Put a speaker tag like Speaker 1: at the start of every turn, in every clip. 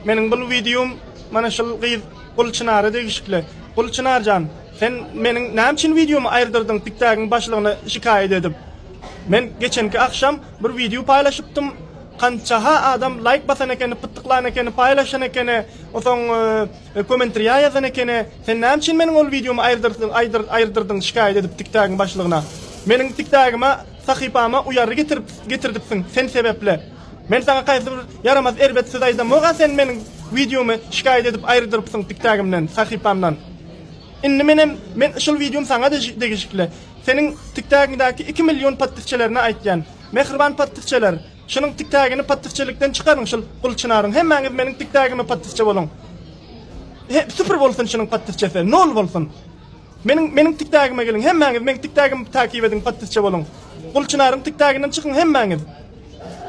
Speaker 1: Meniň bul wideom mana şul gyz Gulçynara degişikli. Gulçynarjan, sen meniň näme üçin wideomy aýyrdyrdyň tiktagyň başlygyna şikaýat edip? Men geçenki agşam bir wideo paýlaşypdym, kançaha adam laýk basan ekeni, pytyklan ekeni, paýlaşan ekeni, soň komentriýa ýazan ekeni, sen näme üçin meniň ol wideomy aýyrdyrdyň şikaýat edip tiktagyň başlygyna? Meniň tiktagyma, sahypama uýargy getirdipsiň sen sebäpli. Men saňa kaýsy bir ýaramaz erbet söz aýdamok-a sen meniň wideomy şikaýat edip aýyrdyrypsyň tiktägimden, sahypamdan. Indi menem men şul wideom saňa degişikli. Seniň tiktägiňdäki iki million podpisçilerine aýtýan. Mähriban podpisçiler şunuň tiktägini podpisçilikden çykaryň şul Gulçynaryň hemmäňiz meniň tiktägime podpisçi boluň. He süpür bolsun şunuň podpisçisi nol bolsun. Meniň meniň tik tagime geliň hemmäňiz meň tik tagim takyp ediň podpisçe boluň Gul çynaryň tik taginden çykyň hemmäňiz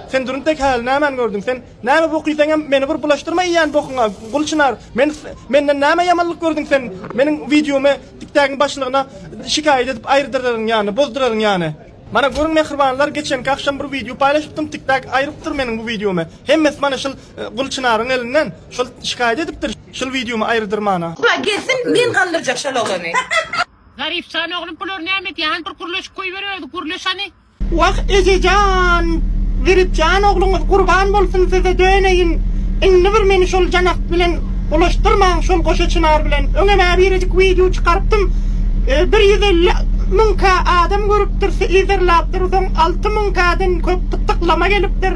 Speaker 1: Sen durun tek häli nämäni gördüň sen näme bok iýseňem meni bir bulaşdyrma iýýän bokuňa Gul çynar men menden näme ýamanlyk gördüň sen meniň wideomy tik tagiň başlygyna şikaýat edip aýyrdyraryn ýany bozduraryn ýany. Mana görüň mähribanlar geçenki agşam bir wideo paýlaşypdym tiktak aýrypdyr meniň bu wideomy hemmesi mana şul Gul çynaryň elinden şol şikaýat edipdir şul wideomy aýrydyr mana. Hudaý
Speaker 2: gelsin men gandyrjak şol oglany. Zarif
Speaker 1: jan oglum bulary näme edýär hany bir gürleşip goýber özi gürleş hany. Wah ejejan Zerifjan ogluňyz gurban bolsun size döneýin indi bir meni şol janak bilen Bulaşdyrmaň şol goşa çynar bilen. Öňem-ä birejik wideo çykarypdym. Bir ýüz elli müňkä adam görüpdir, yzarlapdyr. Soň alty müňkäden köp gysyklama gelipdir.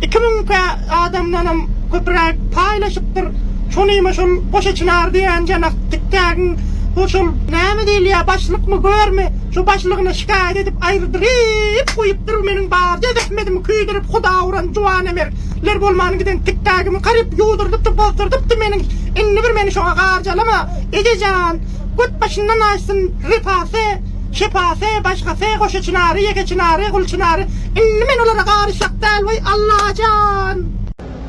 Speaker 1: Iki müňkä adamdanam köpräk paýlaşypdyr. Şonima şol goşa çynar diýen janak tiktägiň bu şol näme diýilýär başlykmy görmi şu başlygyna şikaýat edip aýrydyryp guýupdyr meniň barja zähmetimi küýdürip huda uran juwan emer. Sizler bolman giden tikdägimi garyp ýuwdurdypdy bozdurdypdy meniň indi bir meni şoňa garjalama Ege jan Göt başyndan aýtsyn Repasy Şepasy Başgasy Goşa çynary Ýeke çynary Gul çynary indi men olara garyşjak däl weý Allajan.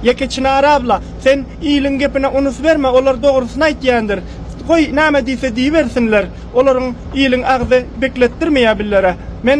Speaker 1: Ýeke çynar abla sen iliň gepine unus berme olar dogrusyny aýtýandyr goý näme diýse diýibersinler olaryň iliň agzy bekletdirmeýä billere men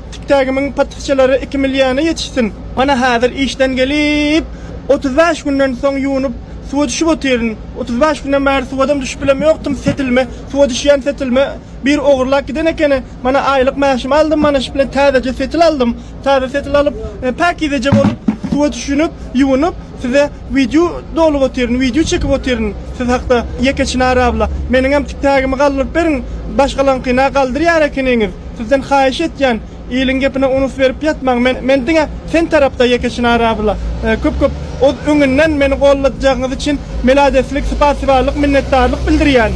Speaker 1: Tikdägimiň patyhçalary iki milýana ýetişsin. Mana häzir işden gelip, otuz bäş günden soň ýuwnup, suwa düşüp otyryn. Otuz bäş günden bäri suwadam düşüp bilem ýokdum, setilme, suwa düşýän setilme biri ogurlap giden ekeni. Mana aýlyk mäşimi aldym, mana şu bilen täzeje setil aldym. Täze setil alyp, päkizeje bolup, suwa düşünip, ýuwunyp, size. Wideo dolup otyryn, wideo çekip otyryn siz hakda, ýeke Çynar abla. Meniňem tik tagimi galdyryp beriň, başgalaňkyny-a galdyrýar ekeniňiz. Sizden haýyş etýän, iliň gepine unus berip ýatmaň. Men, men diňe sen tarapda ýeke Çynar abla. Köp, köp oz öňünden meni golladjagyňyz üçin meladeslik, sypasibalyk, minnetdarlyk bildirýän.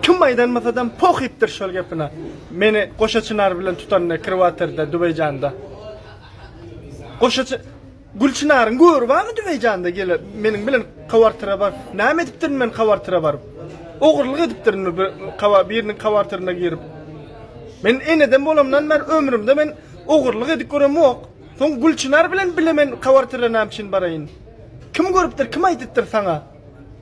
Speaker 1: Kim aýdanmasadam pohypdyr şol gepine. Meni goşa Çynar bilen tutanda ekrewatorda, Dubeýjanda. Goşa Çy. Gülçynaryň göri barmy Dübeýjanda gele meniň bilen kawartyra bar näme edipdirin men kawartyra baryp ogurlyk edipdirinmi bir kawa biriniň kawartyryna girip men eneden bolamdan bäri ömrümde men ogurlyk edip göremok soň Gülçynar bilen bile men kawartyra näme üçin baraýyn kim görüpdir kim aýdypdyr saňa.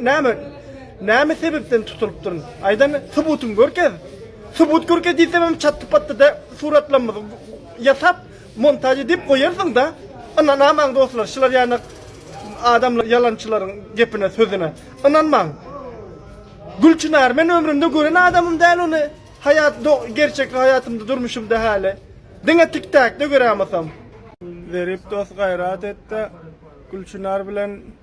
Speaker 1: Näme? Näme sebepden tutulypdyryn? Aýdan subutyňy görkez. Subut görkez diýsemem çatdy-patdy-da suratlamyzy ýasap, montaž edip goýarsyň-da. Ynanamaň dostlar, şular ýaly adamlar ýalançylaryň gepine, sözüne. Ynanmaň. Gülçynary men ömrümde gören adamym däl ony. Haýat gerçek haýatymda, durmuşymda häli. Diňe tik-takda göräýmasam. Zerip dost gaýrat et-de Gülçynar bilen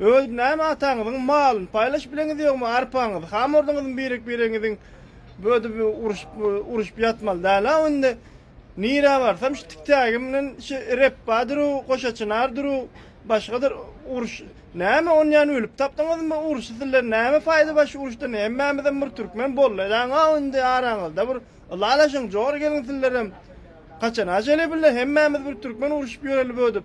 Speaker 1: Öz näme ataňyzyň malyny paýlaşyp bileňiz ýogmy arpaňyzy hamurdyňyzmy birek biregiňiziň bödüp uruşyp uruşyp ýatmaly dälä indi nirä barsam şu tiktägim bilen şu repba duruw goşaçynar duruw başgadyr uruş näme on ýan ölüp tapdyňyzmy uruşy sizler näme paýda bar şu uruşdan hemmämizem bir türkmen bolly daňa indi araňyzda bir ylalaşyň jor geliň sizlerem kaçana jele bille hemmämiz bir türkmen uruşyp ýöreli bödüp.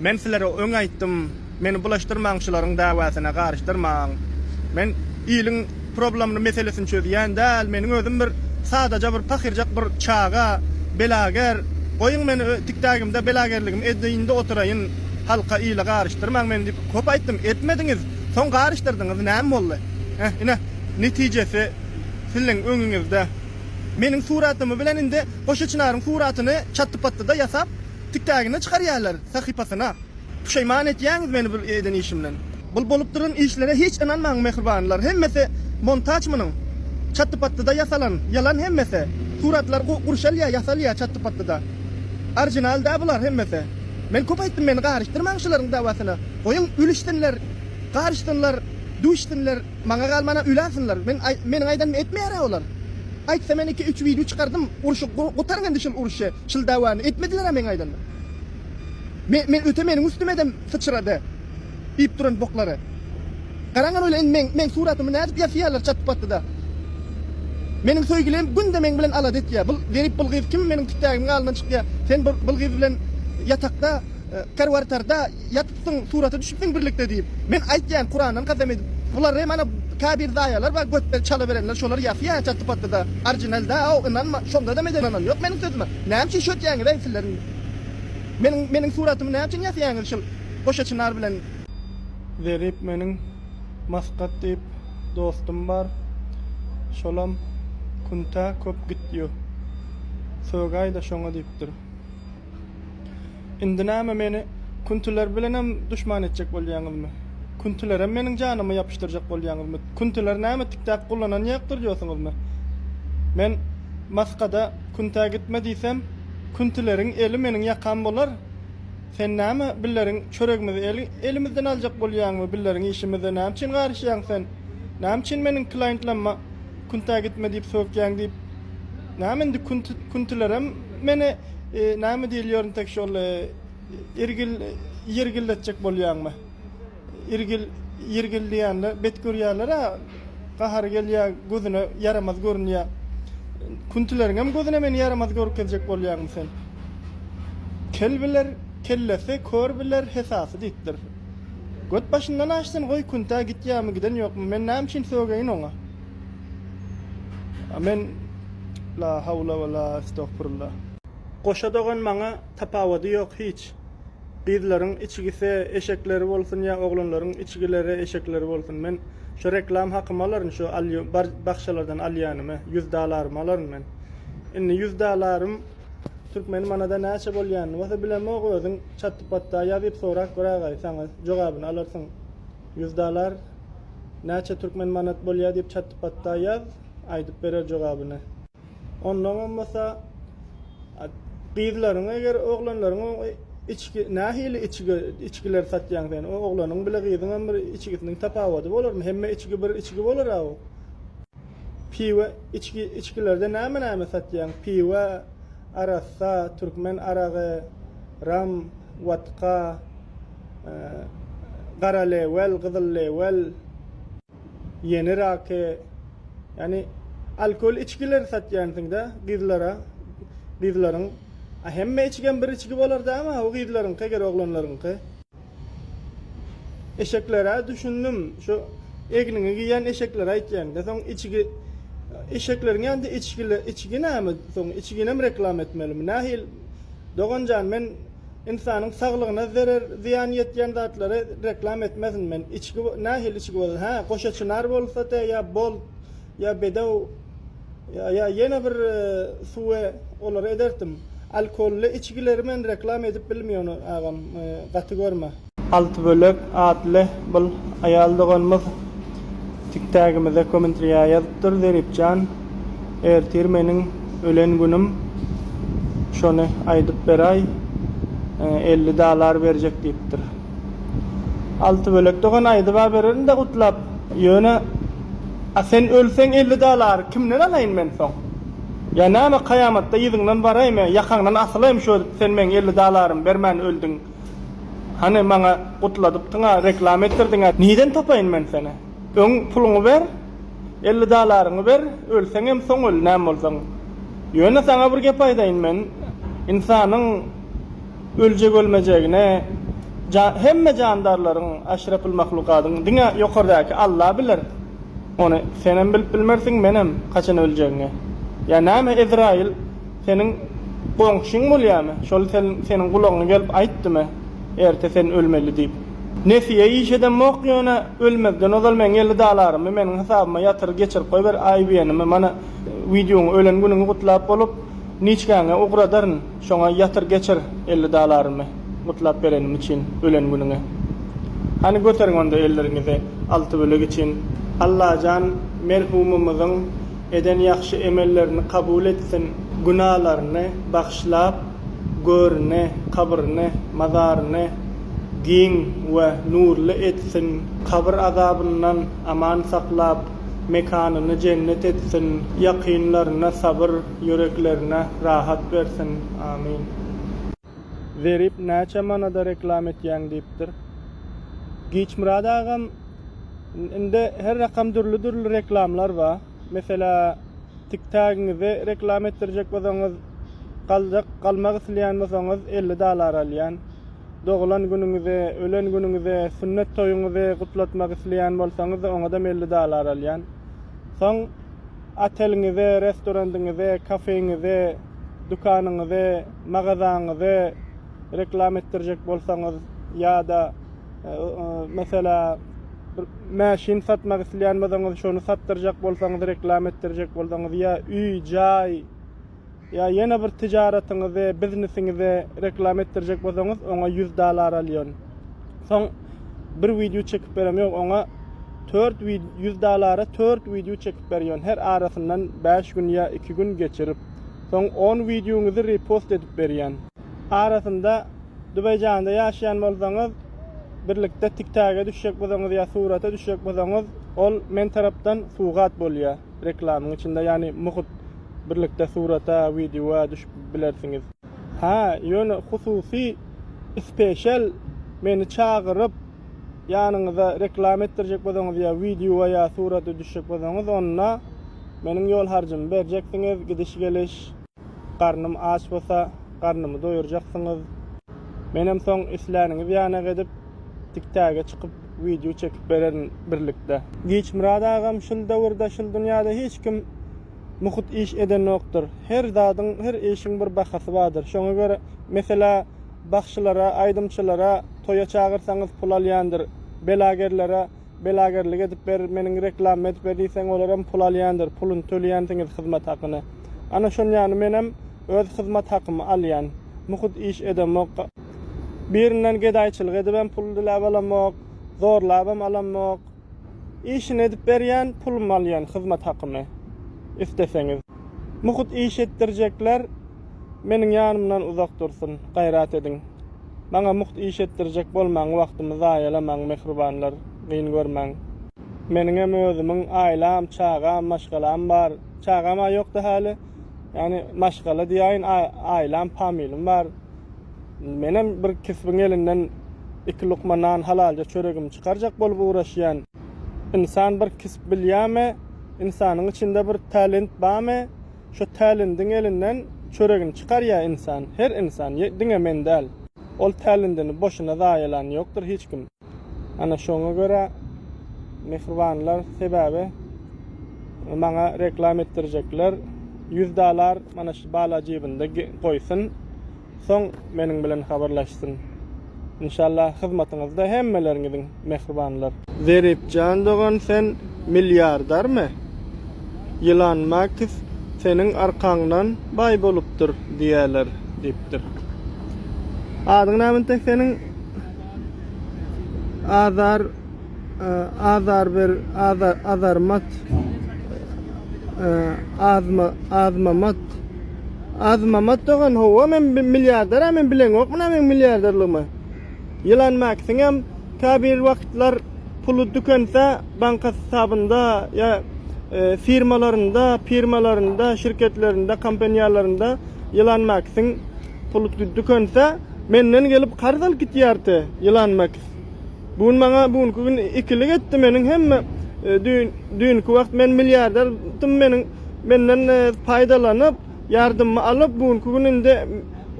Speaker 1: Men sizlere öň aýtdym, meni bulaşdyrmaň şularyň dawasyna garyşdyrmaň. Men iliň problemny meselesini çözýän däl, meniň özüm bir sadaja bir pahyrjak bir çaga, belager, goýuň meni tikdagimde belagerligimi edeýinde oturaýyn, halka ile garyşdyrmaň meni diýip köp aýtdym, etmediňiz, soň garyşdyrdyňyz näme boldy? Heh ine netijesi sizleň öňüňizde. Meniň suratymy bilen indi Goşa Çynaryň suratyny çatdy-patdyda ýasap. Tiktägine çykarýarlar sahypasyna. Puşaýman etýäňiz meni bir eden işimden. Bul bolup duran işlere hiç ynanmaň mähribanlar hemmesi montaç munuň çatdy patdyda ýasalan ýalan hemmesi suratlar gurşalýa ýasalýa çatdy patdyda orjinal däl bular hemmesi men köp aýtdym meni garyşdyrmaň şularyň dawasyna goýuň ülüşsinler garyşsynlar düwüşsinler maňa galmana üläsinler men meniň aýdanymy etmeýärä olar aýtsa men iki üç wideo çykardym urşy gutaryň indi şul urşy. Şul dawany etmediler-ä meň aýdanda. Men, men öte meniň üstüme edem syçrady. Iýip duran boklary. Garaňa bolýa indi meň, meň suratymy nädip ýasaýarlar çatypatdyda. Meniň söýgülim günde meň bilen alada etýä. Bul zerip bul gyz kim meniň tütägimiň alyndan çykýa. Sen bul, bul gyz bilen ýatakda, e, karwartarda ýat. Soň surata düşüpsiň birlikde diýip. Men aýtýan kurandan kasam edip. Bular re mana kabir zaýalar bar götde çala berenler şolar ýasy ýa çatdy patdy da orginal da aw ynanma şondadam eden ynan ýok meniň sözüme näme üçin şöýtýäňiz eý sizler indi meniň meniň suratymy näme üçin ýasýaňyz şul goşa çynar bilen. Zerip meniň maskat diýip dostum bar şolam kuntä köp gitýo sögaýda şoňa diýipdir Indi näme, meni Kuntiler bilenem duşman etjek bolýaňyzmy? Kuntilerem meniň janymy ýapyşdyrjak bolýaňyzmy? Kuntiler näme tik-tak gullanan ýakdyr diýýorsyňyzmy? Men Maskada Kuntä gitme diýsem, Kuntileriň eli meniň ýakam bolar? Sen näme, billeriň çöregimizi elimizden aljak bolýaňmy? Billeriň işimize näme üçin garyşýaň sen? Näme üçin meniň klaýentlama Kuntä gitme diýip sökýäň diýip, näme indi Kuntilerem Menä näme diýil ýörün tek şol irgil ýirgildetjek bolýaňmy. Irgil ýirgil diýende bet görýärler-ä gahary gelýär gözüne ýaramaz görünýär. Küntüleriňem gözüne meni ýaramaz görkezjek bolýaňmy sen. Kel biler kellesi kör biler hesasy diýipdir. Göt başyndan aşsyn goý küntä gitýärmi giden ýokmy men näme üçin sögeýin oňa. Amen La hawla we la estogfurullah. Goşa dogan maňa tapawady ýok hiç. Gyzlaryň içigise eşekleri bolsun ýa oglanlaryň içigilere eşekleri bolsun men şo reklam hakymy alaryn şo alýo bar bakşalardan alýanymy ýüz dalarymy alaryn men indi ýüz dalarym türkmeni manada näçe bolýanyny bolsa bilemok özüň çatdy patda ýazyp sorap göragaý saňa jogabyny alarsyň. Ýüz dalar näçe türkmen manat bolýa diýip çatpatda ýaz, aýdyp berer jogabyny. Onnoňam bolsa gyzlaryňy eger oglanlaryň içgi nähili içgi içgiler satýaň sen o oglanyň bile gyzyňam bir içgisiniň tapawady bolarmy hemme içgi bir içgi bolara o piwe içgi içgilerde näme näme satýaň piwe arassa türkmen aragy ram watka gara lewel, gyzyl lewel, ýeni rake, ýani alkogol içgileri satýansyňda gyzlara, gyzlaryň hemme içgem bir içgi bolar dämi haw gyzlaryňky eger oglanlaryňky. Eşeklere düşündim şu egniňi giýen eşeklere aýtýanda soň içgi eşekleriň ýanynda içgili içgi näme soň içginem reklama etmelimi nähili doganjan men Ynsanyň saglygyna zerer zyýan ýetýän zatlary reklam etmezin men içgi nähili içgi bolsa hä goşa çynar bolsa de ýa bolt ýa bedew ýa ýene bir suwe olary edertim alkolly içgileri men reklam edip bilmiýon agam gaty görme. Altybölek atly bul aýal doganymyz tik-tagimize kommentriýa ýazypdyr, Zeripjan, ertir meniň ölen günüm, şony aýdyp beraý, elli dalar berjek diýipdir. Altybölek dogan aýdyba bererin-dä gutlap, ýöne, a sen ölseň elli dalary kimden alaýyn men soň? Ýa näme kaýamatda yzyňdan baraýmy, ýakaňdan asylaýmy şo sen meň elli dalarymy bermän öldüň? Hany maňa gutladypdyňa reklama etdirdiňä niden tapaýyn men seni öň puluňy ber elli dalaryňy ber ölseňem soň öl näme bolsaň ýöne saňa bir gep aýdaýyn men ynsanyň öljek ölmejegine hemme jandarlaryň aşrafyl mahlukadyň diňe ýokardäki alla biler ony senem bilip bilmersiň menem haçan öljegiňi ýa näme ezraýyl Seniň goňşyň bolýamy? Şol seniň gulagyňa gelip aýtdymy, erte sen ölmeli diýip? Nesiýe iş edemok ýöne ölmezden ozal meň elli dalarymy meniň hasabyma ýatyr geçirip goýber aýybeýenimi mana wideoň ölen günüňi gutlap bolup niçgäňe ugradaryn şoňa ýatyr geçir elli dalarymy gutlap berenim üçin ölen günüňe hany göteriň onda elleriňizi alty bölek üçin Allajan merhumymyzyň Eden ýagşy emellerini kabul etsin, günalaryny bagyşlap, görini, kabryny, mazaryny giň we nurly etsin, kabyr azabyndan aman saklap, mekanyny jennet etsin, ýakynlaryna sabyr, ýüreklerine rahat bersin. Amin. Zerip näçe manada reklam etýäň diýipdir. Giçmyrat agam indi her rakam dürli dürli reklamlar ba. Meselä tik tagiňizi reklam etdirjek bolsaňyz galjak galmak islýän bolsaňyz elli dalar alýan. Dogulan günüňizi, ölen günüňizi, sünnet toýuňyzy gutlatmak isleýän bolsaňyz oňadam elli dalar alýan. Soň oteliňize, restorandyňyze, kafeňize, dükanyňyze, magazaňyzy reklama etdirjek bolsaňyz ýa-da meselä bir mäşin satmak isleýän bolsaňyz şony satdyrjak bolsaňyz reklama etdirjek bolsaňyz ýa üý jaý ýa ýene bir tijaratyňyzy biznesiňizi reklama etdirjek bolsaňyz oňa ýüz dalar alýan soň bir wideo çekip berem ýok oňa tört ýüz dalara tört wideo çekip berýän her arasyndan bäş gün ýa iki gün geçirip Soň on wideoňyzy repost edip berýän. Arasynda Dubaýjanda ýaşaýan bolsaňyz, birlikde TikTage düşjek bolsaňyz ýa surata düşjek bolsaňyz, ol men tarapdan sugat bolýar reklamyň içinde, ýagny muhut birlikde surata, wideoa düşüp bilersiňiz. Ha, ýöne hususy, special, meni çagyryp. Ýanyňyza reklama etdirjek bolsaňyz ýa wideoa ýa surata düşjek bolsaňyz onda meniň ýol harjymy berjeksiňiz, gidiş geliş, garnym aç bolsa garnymy doýurjaksyňyz. Menem soň isläniňiz ýanak edip tik tage çykyp wideo çekip bererin birlikde. Giçmyrat agam şul döwürde şul dünýäde hiç kim muhut iş edenokdyr. Her zadyň her işiň bir bahasy bardyr. Şoňa görä meselä Bagşylara, aýdymçylara toýa çagyrsaňyz pul alýandyr. Belagerlere belagerlik edip ber, meniň reklamy edip ber diýseň olaram pul alýandyr. Puluny töleýänsiňiz hyzmat hakyny. Ana şon ýaly menem öz hyzmat hakymy alýan. Muhut iş edemok. Birinden gedaýçylyk edibem pul diläp alamok. Zorlabam alamok. Işini edip berýän pulumy alýan hyzmat hakymy isleseňiz. Muhut iş etdirjekler meniň ýanymdan uzak dursun gaýrat ediň. Maňa muht iş etdirjek bolmaň wagtymy zaýalamaň mähribanlar gyn görmäň. Meniňem özümiň aýlam çagam maşgalam bar çagama ýokda häli ýagny maşgala diýäýin aýlam pamilym bar. Menem bir kisbiň elinden iki lukma nan halalja çöregimi çykarjak bolup ugraşýan. Ynsan bir kisp bilýämi, ynsanyň içinde bir talent bamy, şo talendiň elinden çöregini çykarýa ynsan, her ynsan, diňe men däl. Ol talendini boşuna zaýalan ýokdur hiç kim. Ana şoňa görä mähribanlar sebäbi maňa reklam etdirjekler ýüz dalar mana şu bala jibinde goýsun soň meniň bilen habarlaşsyn inşallah hyzmatyňyzda hemmeleriňiziň mähribanlar. Zeripjan dogan sen milliardermi? Ýylan Makis seniň arkaňdan baý bolupdyr diýýäler diýipdir. Adyň näme entek seniň? Azar Azar ber Azar Azarmat Azma Azmamat Azmamat dogan howa men milliarder men bilen yok muna men milliarderligimi Ýylan Maksiň hem tä bir wagtlar puly dükense banka hasabynda ýa e, firmalarynda, firmalarynda, şirketlerinde, kompaniýalarynda Ýylan Maksiň Pul dükünse, menden gelip karz alyp gitýärti, ýylan Maks. Bu gün maňa bu günki gün ikilik etdi, meniň hemme düýnki wagt men milliarder dym meniň menden paýdalanyp, ýardymmy alyp, bu günki gün indi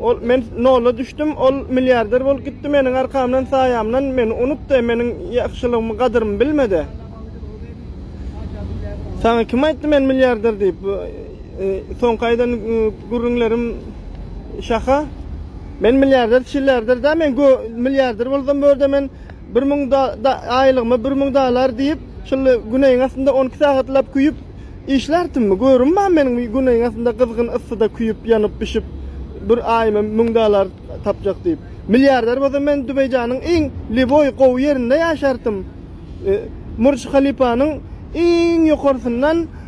Speaker 1: ol men nola düşdüm, ol milliarder bolup gitdi, meniň arkamdan saýamdan meni unutdy, meniň ýagşylygymy gadyrymy bilmedi. Saňa kim aýtdy men milliarder diýip, soňky aýdan Gürrüňlerim şaka. Men milliarder çillarder da men gö milliarder bolsam bu ýerde men bir müň da da aýlygyma bir müň dalar diýip şuly güneýiň astynda on iki sagatlap küýüp işlärtimi görüm ba meniň bir güneýiň astynda gyzgyn yssyda küýüp ýanyp bişip bir aýyma müň dalar tapjak diýip milliarder bolsam men dubeýjanyň iň liboý gowy ýerinde ýaşartym e murj halypanyň iň ýokarsyndan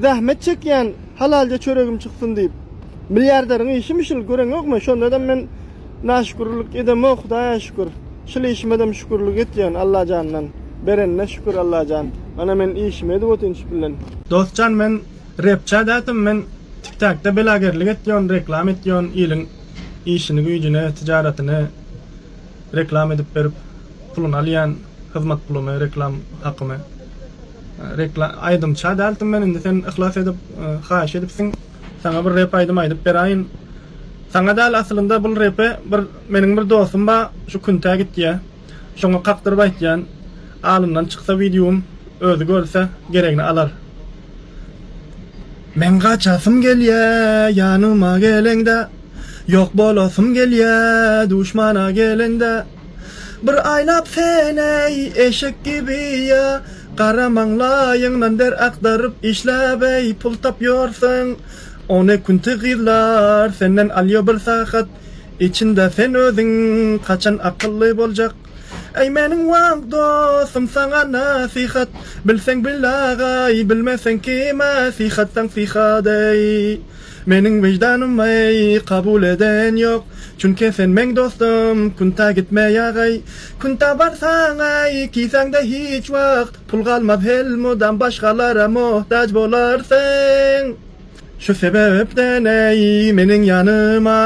Speaker 1: Zähmet çekýän, halalja çöregim çyksyn diýip. Milliarderiň işimi şul, göreňokmy? Şondadam men naşükürlik edemok, Hudaýa şükür. Şul işimedem şükürlik etýän Allajandan. Berenine şükür Allajan. Ana men işimi edip otyryn şu puldan. Dostjan men repçä dätim men tiktakda belagerlik etyon reklam etyon iliň işini güýjini tijaratyny. Reklam edip berip puluny alýan hyzmat puluny reklam hakymy rekla aýdymça däldim men indi sen yhlas edip haýyş edipsiň saňa bir rep aýdym aýdyp beraýyn saňa däl aslynda bul repe bir meniň bir dostum ba şu küntä gitýä şoňa kakdyryp aýtýan alyndan çyksa wideom özi görse geregini alar. Meň gaçasym gelýä ýanyma geleňde. Ýok bolasym gelýä duşmana gelende Bir aýlap sen-eý eşek gibi ýa Gara maňlaýyňdan der agdaryp işläp-eý Pul tapýorsyň ony kunti gyzlar senden alýo Bir sagat içinde sen özüň haçan akylly boljak Eý meniň wang dostum saňa nasihat Bilseň bil agaý bilmeseň kime syhat saň syhat eý Meniň wyždanym aý kabul eden ýok Çünke sen meň dostum Kunta gitme ýagaý Kunta barsaň aý Kisäňde hiç wagt pul galmaz Helmudam başgalara mohtaç bolarsyň Şu sebepden aý meniň ýanyma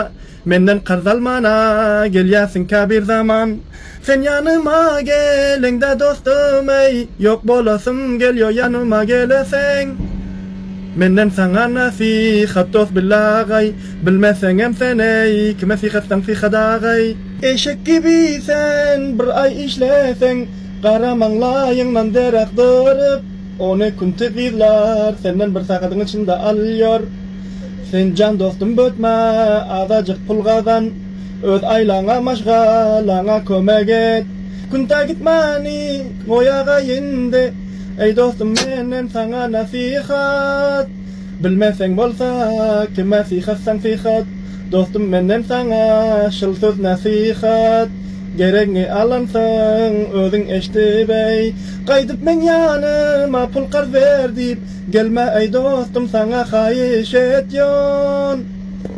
Speaker 1: Menden karz almana, gelýärsiňkä bir zaman. Sen ýanyma geleňdä dostum eý, ýok bolasym gelýo ýanyma geleseň. Menden saňa nasihat dost Billi agaý, bilmeseňem sen eý, kime syhatsaň syhat agaý. Eşek gibi sen bir aý işleseň, gara maňlaýyňdan derak dyryp. Ony Kuntiz yzlar, senden bir sagadyň içinde alýar. Sen jan dostum bötme, azajyk pul gazan. Öz aýlaňa, maşgalaňa kömek et. Kunta gitmäni goýagaý indi. Eý dostum, menden saňa nasihat. Bilmeseň bolsa, kime syhatsaň syhat, Dostum menden saňa şyl söz nasihat. Geregiňi alansyň özüň eşdip eý, Gaýdyp meň ýanyma pul karz ber diýip, Gelme eý dostum saňa haýyş etýon.